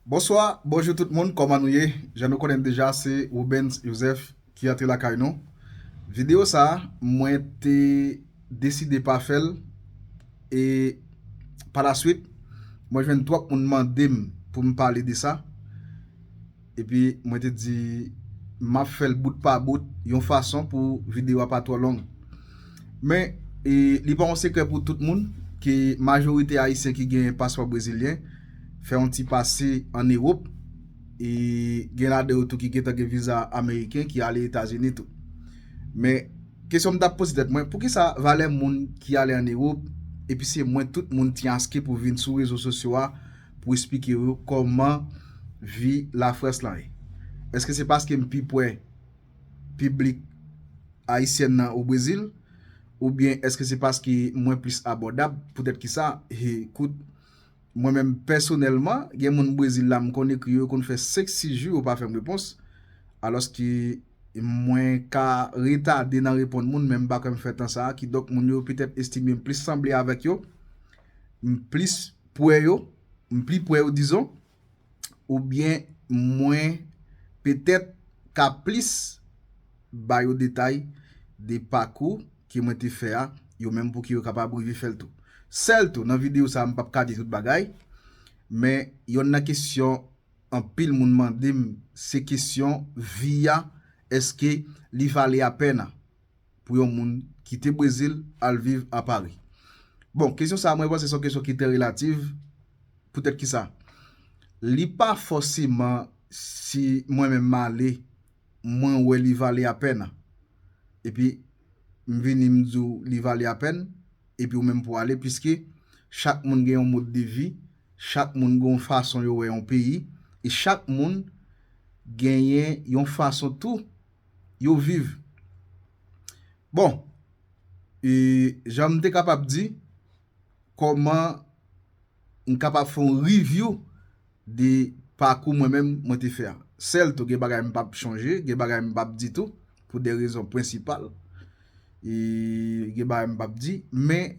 Bonswa, bonjou tout moun kòman nou ye? Jan nou konnen deja se Rubens Joseph ki antre lakay nou. Video sa mwen te deside pa fèl e pa la swit mwen jwenn twòp moun mandem poum pale de sa. Epi mwen te di map fèl bout pa bout yon fason pou video a pa twò long. Men li pa yon sekrè pou tout moun ke majorite ayisyen ki gen paspò brezilyen fè yon ti pase an Ewop e gen ladan yo tou ki gentan gen viza ameriken ki ale Etazini tou. Men kesyon m tap poze tèt mwen poukisa valè moun ki ale an Ewop epi se mwen tout moun tiaske pou vin sou rezo sosyo a pou esplike yo kòman vi Lafrans lan ye. Èske se paske m pi pwè piblik ayisyèn nan o Brezil? Oubyen èske se paske mwen plis abòdab? Poutèt ki sa? He, kout, mwen menm pèsonèlman, gen moun Brezil la m konn ekri yo, yo konn fè senk sis jou yo pa fè m repons, alòske mwen ka retade nan reponn moun men m pa kwè m fè tan sa a, kidonk moun yo petèt estime m plis sanble avèk yo m plis pwè yo, m pli pwè yo dizon, oubyen mwen petèt ka plis ba yo detay de pakou ke mwen te fè a, yo menm pou ki yo kapab rive fè l tou. Sèl tou, nan videyo sa a m pap ka di tout bagay, men yonn nan kesyon anpil moun mande m se kesyon vi a, èske li vale apèn an? pou yon moun kite Brezil al viv a Pari? Bon, kesyon sa a mwen panse se yon kesyon ki trè relativ, poutèt ki sa? Li pa fòseman si mwen menm m ale, mwen wè li vale apèn, epi m vini m di w li vale apèn, epi ou menm pou w ale, piske chak moun gen yon mode de vi, chak moun gen yon fason yo wè yon peyi, e chak moun genyen yon fason tou yo viv. Bon, e jan m te kapab di, kòman m kapab fè yon review de pakou mwen menm mwen te fè a. Sèl tou gen bagay m pa p chonje, gen bagay m pa p di tou, pou de rezon prensipal. E gen bagay m pa p di, men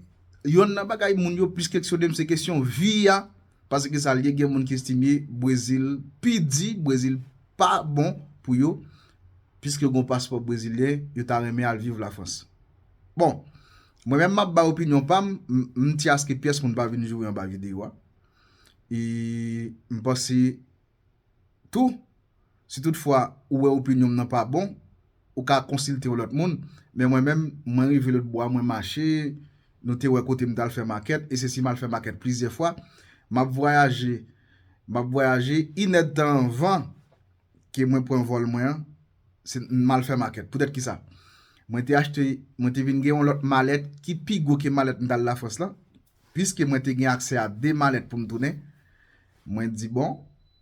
yon nan bagay moun yo plis keksyone m se kesyon vi a. Pase ki sal ye gen moun ki estimye brezil pi di brezil pa bon pou yo piske gon paspò brezilyen yo ta renmen al viv la frans bon mwen menm map bay opinyon pam mnti aske pyès moun pa vin joure anba video a e mpanse tou. Si tout fwa ou wè opinyonm nan pa bon, ou ka konsilte yon lòt moun. Men mwen menm, mwen rive lotbo a mwen mache, nou te wè kote m t al fè makèt, e se si m al fè makèt plizyè fwa. M ap vwayaje, m ap vwayaje, inèdtan anvan ke mwen pran vòl mwen an, se m al fè makèt. Poutèt ki sa? Mwen te achte, mwen te vin gen yon lòt malèt ki pi gwo ke malèt m t al Lafrans lan. Piske mwen te gen aksè a 2 malèt pou m tounen, mwen di bon,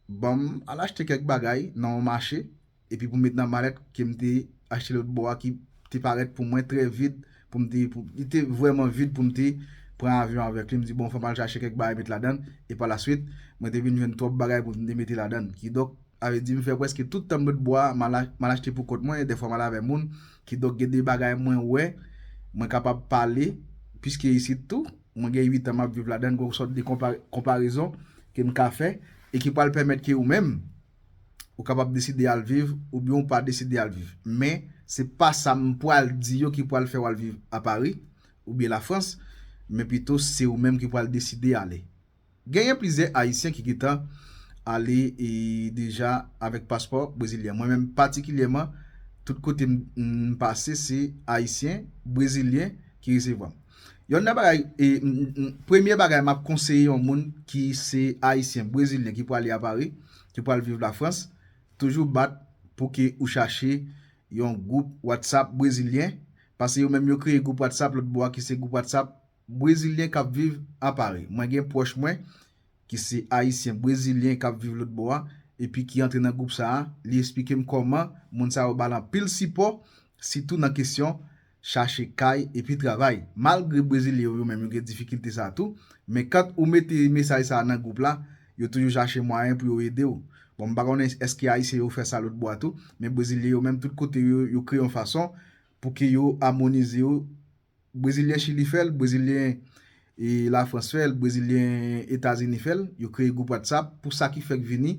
ban m al achte kèk bagay nan yon mache epi pou m met nan malèt ke m te achte lòt bò a ki te parèt pou mwen trè vid pou m te, li te vrèman vid pou m te pran avyon avèk li. M di bon fò m al chache kèk bagay met ladan l e pa la swit mwen te vin jwenn twòp bagay pou m te mete ladan l. Kidonk. Sa vle di m fè prèske tout tan m dwe bwa a, m al achte pou kont mwen, dèfwa m al avè moun. Kidonk gen de bagay mwen wè, mwen kapab pale, piske isit tou, mwen gen uitan m ap viv ladan l, gen yon sòt de konparezon ke m ka fè e ki pral pèmèt ke ou menm, ou kapab deside al viv oubyen ou pa deside al viv. Men, se pa sa m pral di yo ki pral fè w al viv a Pari oubyen Lafrans, men pito se ou menm ki pral deside ale. Genyen plizyè ayisyen ki gentan ale deja avèk paspò brezilyen. Mwen menm patikilyèman tout kote m pase se ayisyen, brezilyen ki resevwa m. Yonn nan bagay, premye bagay m ap konseye yon moun ki se ayisyen, brezilyen ki pwale a Pari, ki pwale viv Lafrans, toujou bat pou ke ou chache yon gwoup WhatsApp brezilyen, pase yo menm yo kreye gwoup WhatsApp lòt bò a ki se gwoup WhatsApp Brezilyen kap viv a Paris. Mwen gen pwòch mwen ki se ayisyen brezilyen kap viv lòt bò a epi ki antre nan gwoup sa a, li esplike m kòman moun sa yo ba l anpil sipò sitou nan kesyon chache kay epi travay. Malgre brezilyen yo yo menm yo gen difikilte sa tou, men kant ou mete mesaj sa a nan gwoup la, yo toujou chache mwayen pou yo ede w. Bon m pa konnen èske ayisyen yo fè sa lòt bò a tou, men brezilyen yo menm tout kote yo yo kreye yon fason pou ke yo amonize yo Brezilyen Chili fè l, Brezilyen Lafrans fè l, Brezilyen Etazini fè l, yo kreye gwoup Whatsapp pou sa ki fèk vini,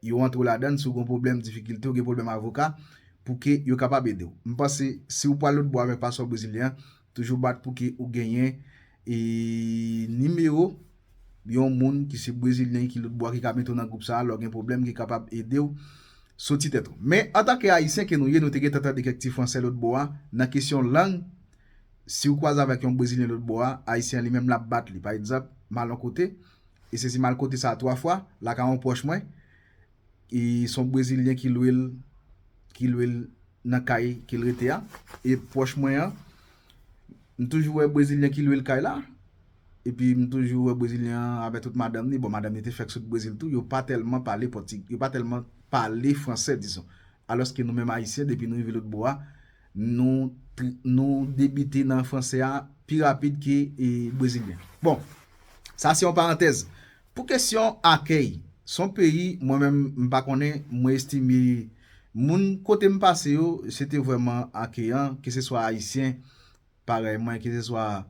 yo antre w ladan l, si w gen yon pwoblèm, difikilte, ou gen pwoblèm avoka, pou ke yo kapab ede w. M panse si w pral lotbo avèk paspo brezilyen an, toujou bat pou ke ou genyen nimewo yon moun ki se brezilyen ki lòt bò ki ka mete w nan gwoup sa a lè w gen pwoblèm ki kapab ede w soti tèt ou. Men, antanke Ayisyen ke nou ye, nou te gentan tande kèk ti franse lòt bò a, nan kesyon lang, si w kwaze avèk yon brezilyen lòt bò a, Ayisyen an li menm l ap bat li. Pa egzanp, m al yon kote, e se si m al kote sa a twa fwa, lakay yon pwòch mwen, e son brezilyen ki lwe l ki lwe l nan kay ke l rete a e pwòch mwen an m toujou wè brezilyen ki lwe l kay la epi m toujou wè brezilyen an avè tout madanm li, bon madanm li te fèk sot brezil tou yo pa tèlman pale pòti yo pa tèlman pale fransè dizon alòske nou menm ayisyen depi nou rive lotbò a nou nou debite nan fransè a pi rapid ke brezilyen bon sa se yon parantèz Pou kesyon akèy, son peyi mwen menm m pa konnen, mwen estime moun kote m pase yo se te vrèman akeyan ke se swa ayisyen parèy mwen ke se swa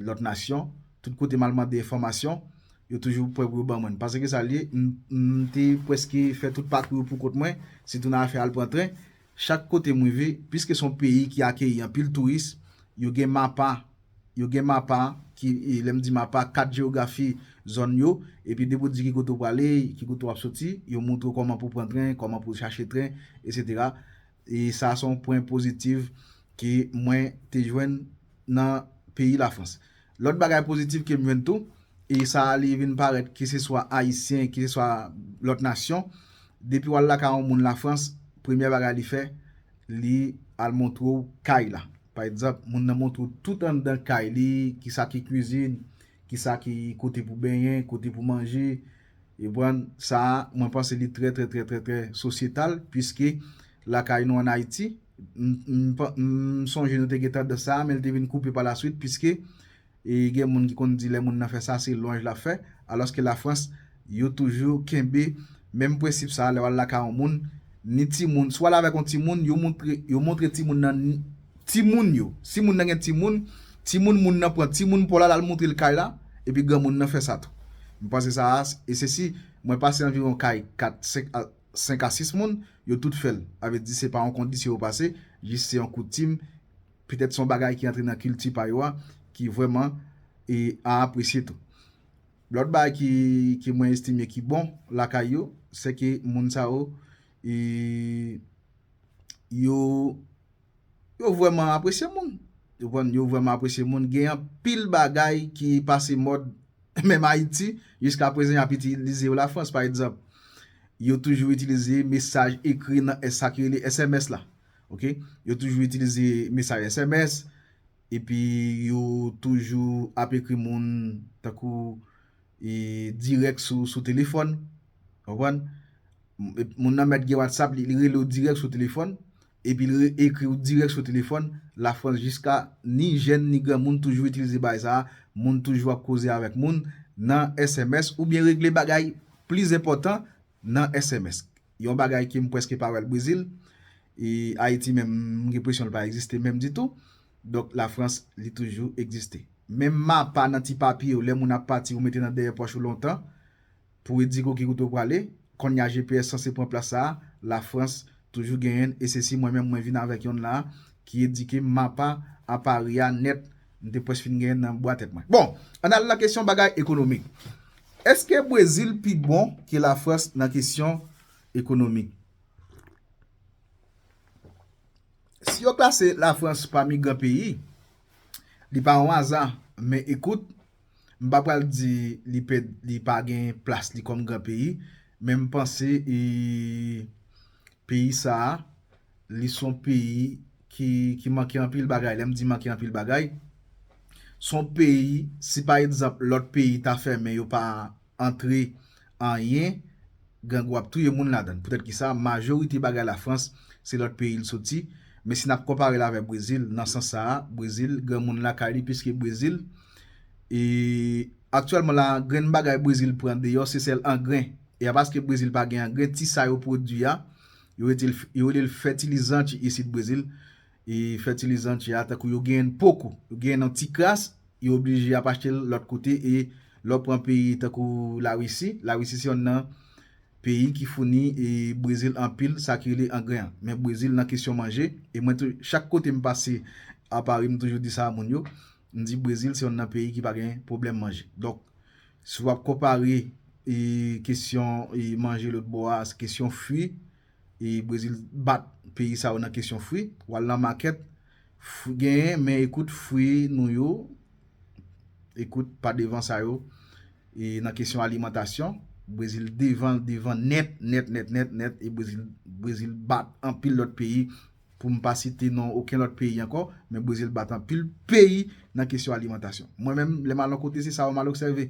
lòt nasyon, tout kote m al mande enfòmasyon yo toujou prè pou yo ban mwen l. Pase ke sa l ye, m te prèske fè tout pakou yo pou kont mwen, sitou nan afè al pran tren. Chak kote m rive, piske se yon peyi ki akeyi anpil touris, yo gen mapa, yo gen mapa ki, lè m di mapa, kat jewografi zòn yo, epi depi w di ki kote w prale, ki kote w ap soti, yo montre w kòman pou w pran tren, kòman pou w chache tren, etsetera. E sa a se yon pwen pozitiv ke mwen te jwenn nan peyi Lafrans. Lòt bagay pozitif ke m jwenn tou, e sa a li vin parèt ke se swa Ayisyen, ke se swa lòt nasyon, depi w al lakay yon moun Lafrans, premyè bagay li fè, li al montre w kay la. Pa egzanp, moun nan montre w tout anndan kay li, ki sa ki kwizin, ki sa ki kote pou benyen, kote pou manje. Ou konprann? Sa a, mwen panse li trè trè trè trè trè sosyetal, puiske lakay nou an Ayiti, m sonje nou te gen tandans sa a, men li te vin koupe palaswit, puiske gen moun ki konn di lè moun nan fè sa, se lwanj l ap fè, alòske Lafrans, yo toujou kenbe menm prensip sa a, lè w al lakay yon moun, ni timoun, si w al avèk yon timoun, yo montre timoun nan. Timoun yo, si moun nan gen timoun, timoun moun nan pran timoun paw la lal moutrel kay la, epi granmoun nan fè sa tou. M panse sa a e se si mwen pase anviwon kay 4, 5 a 5 a 6 moun, yo tout fèl. A vle di se pa yon kondisyon yo pase, jis se yon koutim, petèt son bagay ki antre nan kilti pa yo a ki vrèman e a apresye tou. Lòt bagay ki ke mwen estime ki bon lakay yo, sè ke moun sa yo e yo. Yo vrèman apresye moun. Yo vrèman apresye moun. Gen anpil bagay ki pase mòd menm Ayiti. Jiska prezan y ap itilize yo Lafrans. Pa egzanp, yo toujou itilize mesaj ekri nan sa ki rele sms la. Ok. Yo toujou itilize mesaj sms. Epi yo toujou ap ekri moun tankou. dirèk sou telefòn, ou konprann, moun nan mèt gen WhatsApp li, li rele w dirèk sou telefòn, epi li ekri w dirèk sou telefòn, Lafrans jiska ni jèn ni granmoun toujou itilize bagay sa a, moun toujou ap koze avèk moun nan sms oubyen regle bagay plis enpòtan nan sms. Yon bagay ke m prèske pa wè l Brezil, e Ayiti menm m gen presyon l pa egziste menm ditou. Donk la France li toujou egziste. Menm mapa nan ti papye yo lè moun ap pati ou mete nan dèyè pòch ou lontan pou e di ko ki kote ou prale, konnya GPS sanse pran plas sa a, la France toujou genyen l e se si mwen menm mwen vin avèk yonn la a ki edike m mapa a Paris a nèt m te pwès fin genyen nan bwa tèt mwen. Bon, ann al nan kesyon bagay ekonomik. Eske Brésil pi bon ke la France nan kesyon ekonomik? Si yo klase Lafrans pami gran peyi, li pa yon aza, men ekout, m pa pral di li pe li pa gen plas li kòm gran peyi, men m panse peyi sa a, li son peyi ki manke anpil bagay, lè m di manke anpil bagay, son peyi si pa egzanp lòt peyi ta fèmen yo pa. antre anyen grangou ap touye moun ladann poutèt kisa majorite bagay lafrans se lòt peyi l soti men si nap konpare l avè brezil nan sans sa a brezil granmoun lakay li piske brezil e aktyèlman la grenn bagay brezil pran deyò se sèl angren e apaske brezil pa gen angren ti sa yo pwodwi a yo rete yo rele l fètilizan ki isit brezil e fètilizan tè a tankou yo genyenn poko, yo genyenn an ti kras, yo oblije ap achte l lòt kote e lè w pran peyi tankou Lawisi, Lawisi se yonn nan peyi ki founi e Brezil anpil sa ki rele angren an. Men Brezil nan kesyon manje e mwen tou chak kote m pase a Pari m toujou di sa a moun yo, m di Brezil se yonn nan peyi ki pa gen pwoblèm manje. Donk si w ap konpare e kesyon e manje lotbò a se kesyon fwi. e brezil bat peyi sa yo nan kesyon fwi wal nan makèt fwi genyen men ekout fwi nou yo ekout pa devan sa yo e nan kesyon alimantasyon brezil devan devan nèt nèt nèt nèt nèt e brezil brezil bat anpil lòt peyi pou m pa site non oken lòt peyi ankò men brezil bat anpil peyi nan kesyon alimantasyon mwen menm lè m al yon kote se sa yo m al obsève.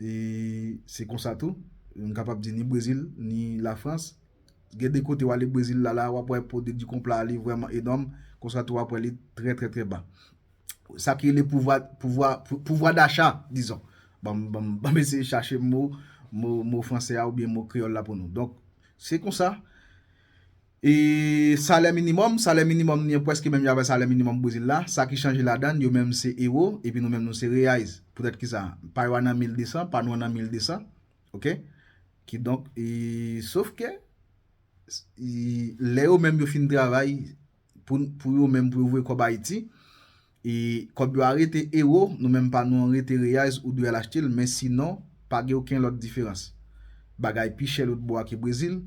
E se konsa tou, m kapab di ni Brezil, ni Lafrans. Gen de kote w ale Brezil la la, w ap wè po de Dikonpla a li vrèman enòm, konsa tou w ap wè li trè trè trè ba. Sa ki rele pouvwa, pouvwa, pouvwa dacha, dizon. Ban m, ban m, ban m eseye chache mo, mo, mo franse a oubyen mo kreyòl la pou nou. Donk, se konsa. E salè minimòm, salè minimòm ni an pwèske menm jan avè salè minimòm Bwezil la, sa ki chanje ladann, yo menm se ewo, epi nou menm nou se reais. Poutèt ki sa? Pa yo a nan 1200, pa nou an nan 1200, ok. Ki donk, e sof ke, lè yo menm yo fin travay, pou yo menm pou yo voye kòb Ayiti, E kòb yo a rete ewo, nou menm pa nou an rete reais ou dwe al achte l men sinon pa gen oken lòt diferans. Bagay pi chè lotbo a ke Brezil.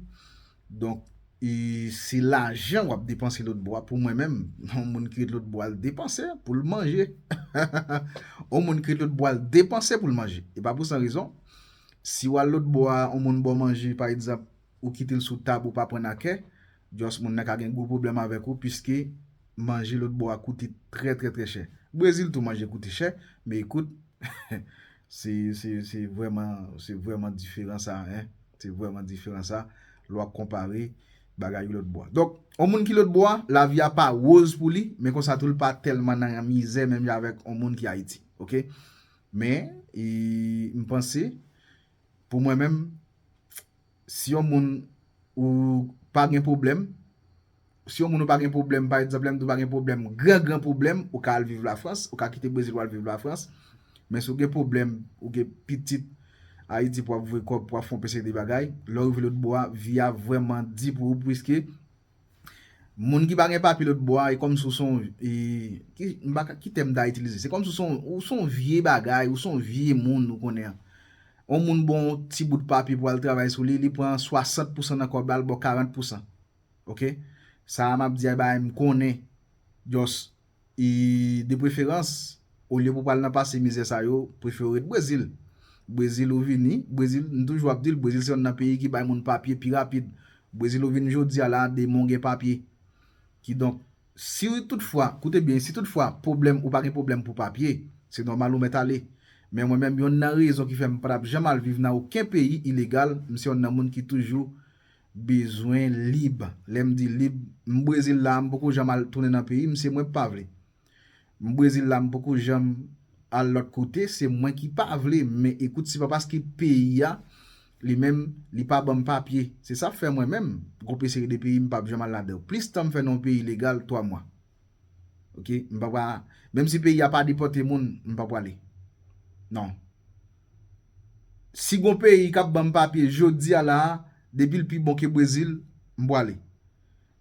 Donk e se lajan w ap depanse lotbo a pou mwen menm yon moun ki ret lotbo a l depanse pou l manje. Yon moun ki ret lotbo a l depanse pou l manje. E pa pou san rezon. Si w al lotbo a yon moun ba w manje pa egzanp ou kite l sou tab ou pa pran nan kè. Just moun nan ka gen gwo pwoblèm avèk ou piske manje lòt bò a koute trè trè trè chè. Brezil tou manje koute chè, men ekout se se vrèman se vrèman diferan sa hein, se vrèman diferan sa lè wap konpare bagay yo lòt bò a. Donk yon moun ki lòt bò a lavi a pa woz pou li men konsa tou li pa tèlman nan mizè menm jan avèk yon moun ki Ayiti ok. Men e m panse pou mwen menm si yon moun ou pa gen pwoblèm, si yon moun ou pa gen pwoblèm, pa egzanp, lè m di ou pa gen pwoblèm, gran gran pwoblèm, ou ka al viv Lafrans, ou ka kite Brezil pou al viv Lafrans, men si ou gen pwoblèm, ou gen pitit Ayiti pou w ap voye kòb, pou w ap fè yon pe seri de bagay, lè w rive lòtbò a, vi a vrèman di pou ou, pwiske Moun ki pa gen papye lòt bò a e kòmsi ou se yon m pa ka ki tèm m ta itilize se kòmsi ou se yon vye bagay ou se yon vye moun ou konnen yon moun ba w yon ti bout papye pou al travay sou li li pran 60 pousan nan kòb la l ba w 40 pousan ok sa a m ap di a e bagay m konnen just E de preferans, olye pou pral nan pase mizè sa yo, prefere w ret Brezil. Brezil ou vini, Brezil, m toujou ap di l, Brezil se yonn nan peyi ki bay moun papye pi rapid. Brezil ou vini jodi a la, demon w gen papye. Kidonk, si tout fwa, koute byen, si tout fwa pwoblèm, ou pa gen pwoblèm pou papye, se nòmal ou mèt ale. Men mwen menm, yonn nan rezon ki fè m pa t ap janm al viv nan oken peyi ilegal, m se yonn nan moun ki toujou. bezwen lib lèm di lib m brezil la m poko janm al tounen nan peyim se mwen pa vle m brezil la m poko janm al lòt kote se mwen ki pa vle men ekout se pa paske peyi a li menm li pa banm papye se sa fè mwen menm gon pe seri de peyi m pap janm al ladanw plis tan m fè nan yon peyi legal 3 mwa ok m pa menm si peyi a pa depòte moun m pa pwale nan. Si gon peyi kap banm papye jodia la a depil pi bon ke brezil m pwale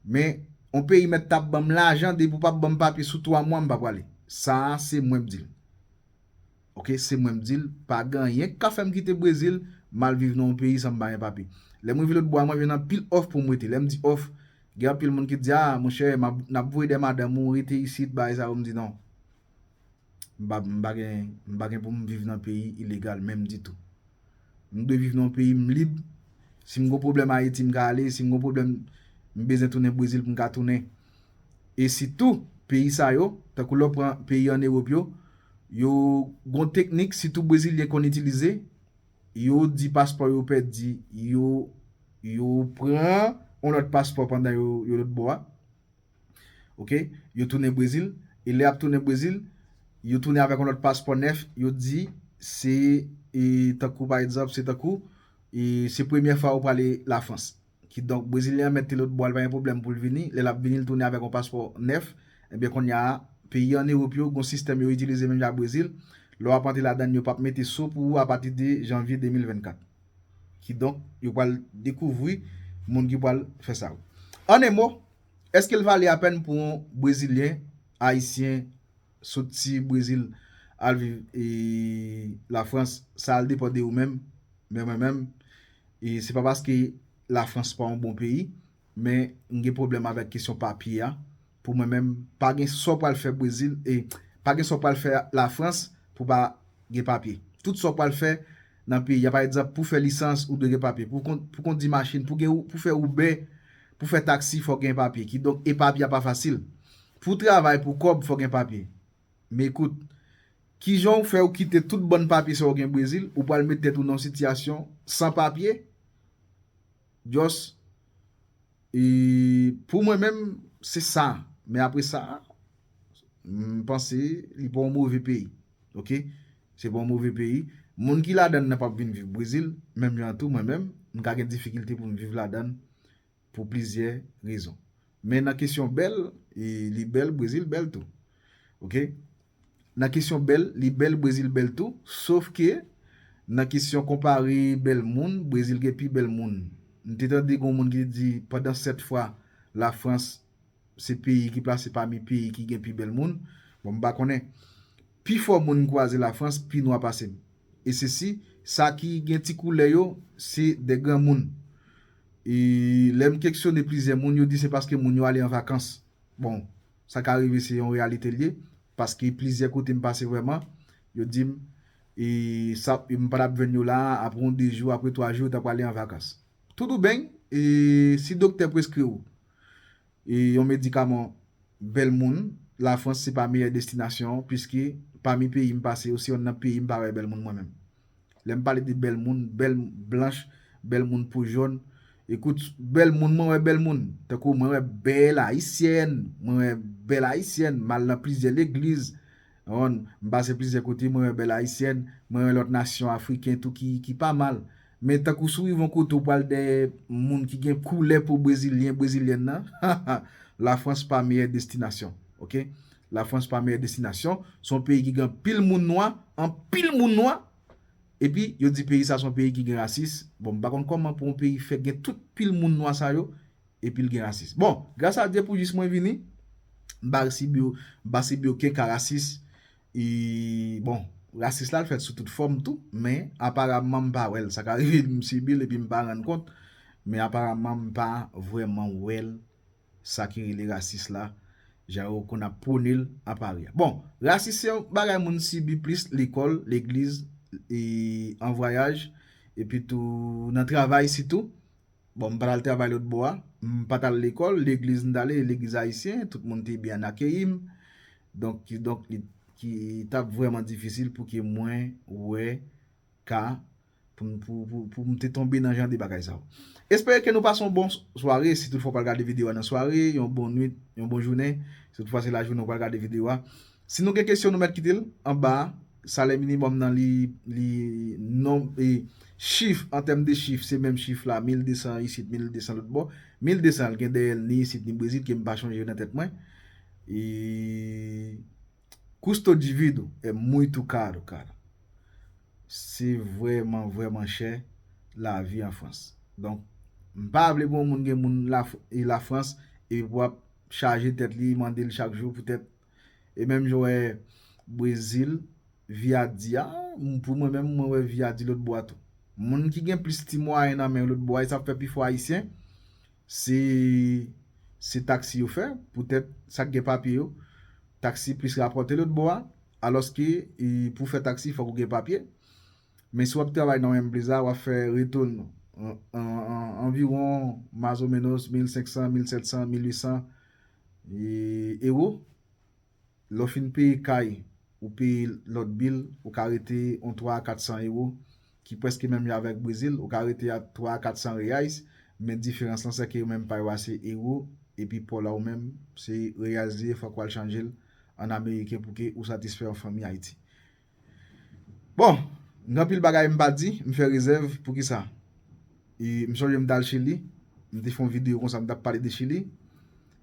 men on peyi mèt tap banm lajan depi ou pap banm papye sou 3 mwa m pa pwale sa a se mwen bdil ok se mwen bdil pa gen anyen k ka fèm kite brezil mal viv nan on peyi sanm pa gen papye lèm rive lotbo a mwen jwenn anpil òf poum rete lèm di òf gen anpil moun ki t di a monchè nap voye dè madanm ou rete isit bagay sa yo m di non. m pa gen m pa gen pou m viv nan peyi ilegal menm ditou m dwe viv nan yon peyi m lib si m gen yon pwoblèm ayiti m ka ale si m gen yon pwoblèm m bezwen tounen brezil pou m ka tounen e sitou peyi sa yo tankou lè w pran peyi an ewop yo yo gen yon teknik sitou brezilyen konn itilize yo di paspò yo pèdi yo yo pran yon lòt paspò pandan yo lòtbò a. Ok, yo tounen Brezil, e lè y ap tounen Brezil, yo tounen avèk yon lòt paspò nèf, yo di se tankou pa egzanp, se tankou se premyè fwa ou prale Lafrans. Kidonk, Brezilyen an mèt te lotbò a, li pa gen pwoblèm pou l vini, lè l ap vini l tounen avèk yon paspò nèf, enben konnya a, peyi an Ewop yo gon sistèm yo itilize menm jan ak Brezil, lè w ap antre ladann yo p ap mete so pou ou apatide janvye 2024. Kidonk, yo pral dekouvri moun ki pral fè sa yo. An e mo, èske l vale apèn pou yon Brezilyen, Ayisyen, soti Brezil al viv Lafrans, sa al depan de ou menm, men mwen menm, se pa paske Lafrans pa yon bon peyi, Men m gen pwoblèm avèk kesyon papye a. Pou mwen menm, pa gen sa w pral fè Brezil, e pa gen sa w pral fè Lafrans pou w pa gen papye. Tout sa w pral fè nan peyi a, pa egzanp, pou w fè lisans, ou dwe gen papye. Pou w kondi machin, pou w fè Uber, pou w fè taksi, fò w gen papye. Kidonk, e papye a pa fasil. Pou w travay pou kòb, fò w gen papye. Men koute, ki jan w fè ou kite tout bann papye sa yo gen Brezil, ou pral met tèt ou nan yon sitiyasyon san papye? Just e pou mwen menm se sa men apre sa m panse li pa yon move peyi ok se pa yon move peyi moun ki ladann nan pap vin viv brezil menm jan tou mwen menm m ka gen difikilte pou m viv ladann pou plizyè rezon men nan kesyon bèl e li bèl brezil bèl tou ok. Nan kesyon bèl, li bèl Brezil bèl tou, sof ke nan kesyon konpare bèl moun, Brezil gen pi bèl moun. M te tande gen yon moun ki te di pandan 7 fwa la Frans se peyi ki plase pami peyi ki gen pi bèl moun, bon m pa konnen. Pi fò moun m kwaze la Frans pi nwa pase m. E se si sa ki gen ti koulè yo se de granmoun. E lè m keksyone plizyè moun yo di se paske moun yo ale an vakans. Bon, Sa ka rive se yon reyalite l ye paske plizyè kote m pase vrèman yo di m e sa m pa t ap jwenn yo la apre yon de jou apre twa jou yo ta prale an vakans. Toudoubeny e si doktè preskri w e yon medikaman bèl moun lafrans se pa meyè destinasyon piske pami peyi m pase yo se yonn nan peyi m pa wè bèl moun mwen menm. Lèm pale de bèl moun, bèl blanch, bèl moun po jòn, ekout bèl moun mwen wè bèl moun, tankou mwen wè bèl ayisyèn, mwen wè bèl ayisyèn, m al nan plizyè legliz, wonn, m pase plizyè kote mwen wè bèl ayisyèn, mwen wè lòt nasyon afriken tou ki pa mal. Men tankou si w rive yon kote ou pral dèyè moun ki gen koulè po brezilyen, brezilyèn nan, ha ha, lafrans pa meyè destinasyon, ok. La France pa meyè destinasyon, se yon peyi ki gen anpil moun nwa, anpil moun nwa, epi yo di peyi sa se yon peyi ki gen rasis, bon m pa konn kòman pou yon peyi fè gen tout pil moun nwa sa yo epi l gen rasis. Bon, gras a Dye pou jis mwen vini, m pa sibi, m pa sibi oken ka rasis, e bon, rasis la l fèt sou tout fòm tou, men aparamman m pa wè l, sa ka rive m sibi l epi m pa rann kont, men aparamman m pa vrèman wè l. sa ki rele rasis la, jan yo konn ap pwone l a Pari a. Bon, rasis se yon bagay moun sibi plis lekòl, legliz, e an vwayaj, epi tou nan travay sitou. Bon, m pa t al travay lòtbò a, m pa t al lekòl, legliz m t ale, legliz ayisyen, tout moun te byen akeyi m. Donk, kidonk, li t ap vrèman difisil pou ke mwen wè ka pou m te tonbe nan jan de bagay sa yo. Espere ke nou pase yon bon sware, si tout fwa w pral gade video a nan sware, yon bon nwit, yon bon jounen, si tout fwa se lajounen w pral gade video a. Si nou gen kesyon nou mèt kite l anba a, salè minimòm nan li, li non, e chif, an tèm de chif, se menm chif la, 1200 isit, 1200 lòt bò, 1200 l gen dèyè l ni isit ni brezil ke m pa chonje nan tèt mwen, e. Custo divido é muito caro, cara. Se vrèman, vrèman chè lavi an Frans. Donk, m pa vle pou yon moun gen moun Lafrans epi pou ap chaje tèt li, mande l chak jou poutèt e menm jan w wè Brezil, vi a di a, pou mwen menm, mwen wè vi a di lòtbò a tou. Moun ki gen plis ti mwayen nan men yo lòtbò a, e sa fè pifò Ayisyen, Si se taksi yo fè, poutèt sa k gen papye yo, taksi plis rapòte lòtbò a, alòske pou w fè taksi fòk ou gen papye. Men si w ap travay nan Wembley a, w ap fè retou l anviwon mazomenos 1500, 1700, 1800 ewo. Lè w fin peye kay ou peye lòt bil ou ka rete yon 3 a 400 ewo ki prèske menm jan avèk Brezil ou ka rete a 3 a 400 reais men diferans lan sèke yo menm pa yo a se ewo epi paw la ou menm se reais li ye fòk wal chanje l an ameriken pouki ou satisfè yon fanmi Ayiti. Bon, gen anpil bagay m pa di, m fè rezèv, poukisa? E m sonje m t al Chili, m te fè yon videyo konsa m t ap pale de Chili,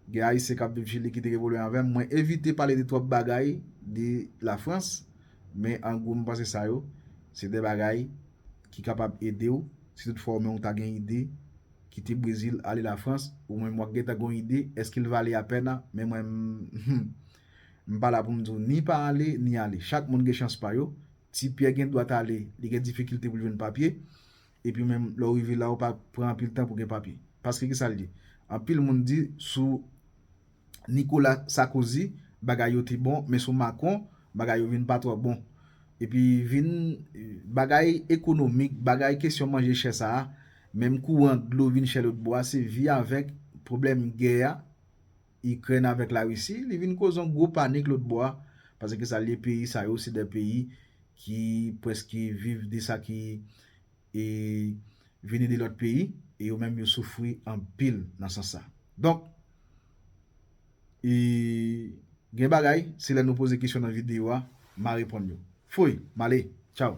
gen Ayisyen k ap viv Chili ki te evolye anvan m, mwen evite pale de twòp bagay de Lafrans, men an gwo m panse sa yo, se de bagay ki kapab ede w, si tout fwa ou menm ou ta gen ide kite Brezil ale Lafrans, ou menm w ap gentan gen yon ide, èske l vale apèn an? Men mwen m, M pa la pou m di w ni pa ale, ni ale. Chak moun gen chans pa yo. Ti Pyè gen dwa t ale, li gen difikilte pou l jwenn papye. Epi menm lè w rive la, ou pa pran anpil tan pou w gen papye. Paske ki sa l di? Anpil moun di sou Nikola Sakozi bagay yo te bon, men sou Makron, bagay yo vin pa twò bon. Epi vin bagay ekonomik, bagay kesyon manje chè sa a, menm kouran, dlo vin chè lòtbò a, se vi avèk pwoblèm gè a Ikrèn avèk la Risi li vin koz yon gwo panik lòt bò a pase ke sa liye peyi sa yo se 2 peyi ki preske viv de sa ki e vini de lòt peyi e yo menm yo soufri anpil nan sans sa donk e gen bagay se lè nou poze kesyon nan video a ma reponn yo foy male tchaw.